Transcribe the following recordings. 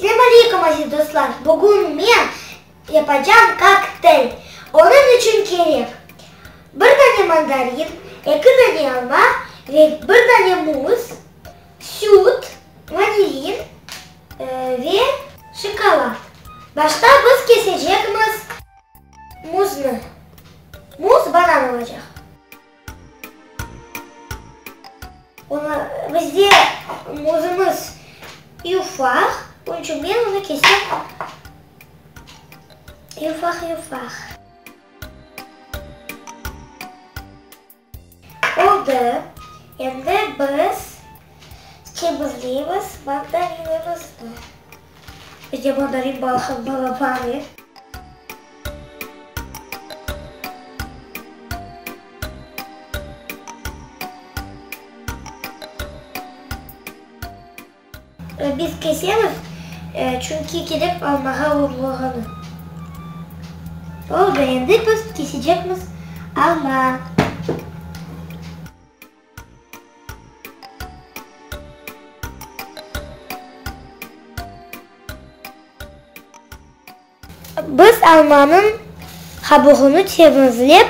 Slâm aleykum, aziz dostlar! Bugün men yapacam kokteyl. Onıñ içün kerek, bir dane mandarin, eki dane alma ve bir dane muz, süt, vanilin ve şokolad. Başta biz kesecekmiz muznı. Muz banan olacaq. Onı bizde özümiz yufaq, onıñ içün men onı kesem yufaq-yufaq. Oldı, endi biz temizleymiz mandarinimizni. Bizge bordarit balahı balavari. Biz kesemiz, çünki kelip almağa urlağanı. Oldı, endi biz kesecekmiz alma. Biz almanıñ qabuğını temizlep,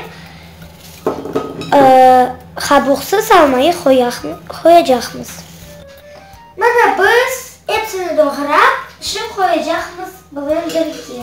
qabuqsız almayı qoyacaqmız. Mına biz epsini doğrap, pişip qoyacaqmız bilen birge.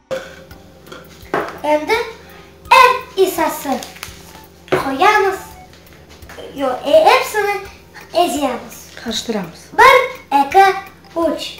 Endi er isası qoyamız, yo, epsini eziyamız. Qarıştıramız. Bir, eki, üç.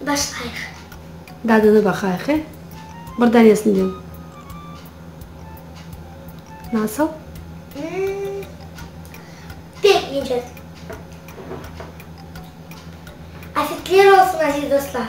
Başlayıq. Dadına baqayıq, e? Bir danesinden. Nasıl? Pek ince. Afetler olsun, aziz dostlar!